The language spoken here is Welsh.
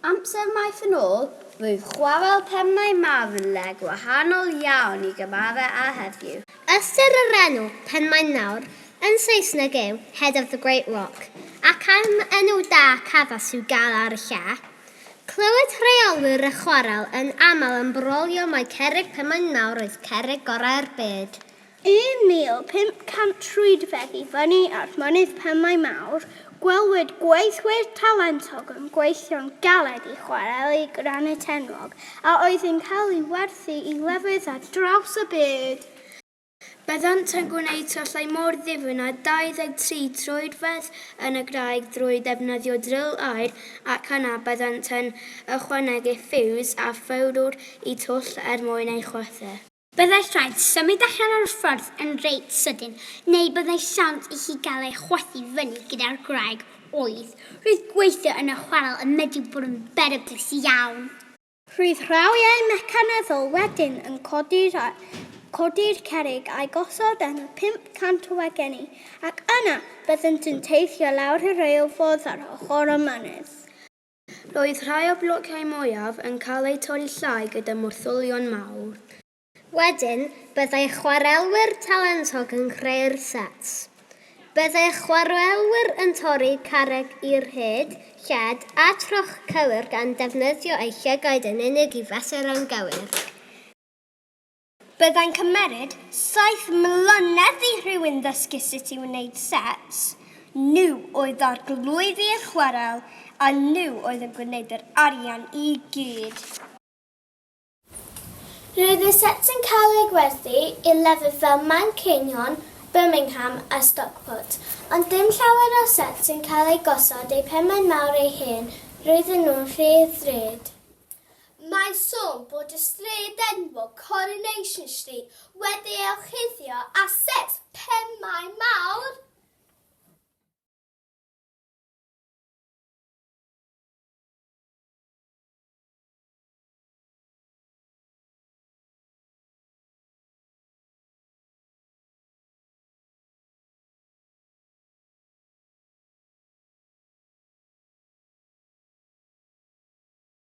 Amser maith yn ôl, rwyf chwarel Pennau Mawr yn le gwahanol iawn i gymharau â heddiw. Ystyr yr enw, Penmaen Mawr, yn Saesneg yw Head of the Great Rock, ac am enw da ac addas i'w gael ar y lle. Clywed rheolwyr y chwarel yn aml yn brolio mai cerrig Penmaen Mawr oedd cerrig gorau'r byd. 1,500 troedfedd i fyny at Mynydd Penmaen Mawr, gwelwyd gweithwyr talentog yn gweithio'n galed i chwareli granit enwog a oedd yn cael ei werthu i lefydd ar draws y byd. Byddant yn gwneud tyllau mor ddifyn â 23 troedfedd yn y graig drwy ddefnyddio dril aer ac yna byddant yn ychwanegu ffiws a phowdwr i twll er mwyn ei chwythu. Byddai rhaid symud allan o'r ffordd yn reit sydyn neu byddai siawns i hi gael ei chwythu fyny gyda'r gwraig oedd, roedd gweithio yn y chwarel yn medru bod yn beryglus iawn. Roedd rhawiau mecanyddol wedyn yn codi'r cerrig a'i gosod yn 500 o wagenni ac yna byddent yn teithio lawr y rheilffordd ar ochr y mynydd. Roedd rhai o'r blociau mwyaf yn cael eu torri llai gyda morthwylion mawr. Wedyn, byddai chwarelwyr talentog yn creu'r sets. Byddai'r chwarelwyr yn torri carreg i'r hyd, lled, a troch cywir gan ddefnyddio eu llygaid yn unig i fesur yn gywir. Byddai'n cymmeryd saith mlynedd i rhywun ddysgu sut i wneud sets, nhw oedd arglwyddi'r chwarel a nhw oedd yn gwneud yr arian i gyd. Roedd y sets yn cael eu gwerthu i lefydd fel Manceinion, Birmingham a Stockport, ond dim llawer o sets yn cael eu gosod eu pe mai mawr eu hen roedden nhw'n rhy ddrud. Mae'n sôn bod y stryd enwog Coronation Street wedi ei orchuddio â set pemau mawr.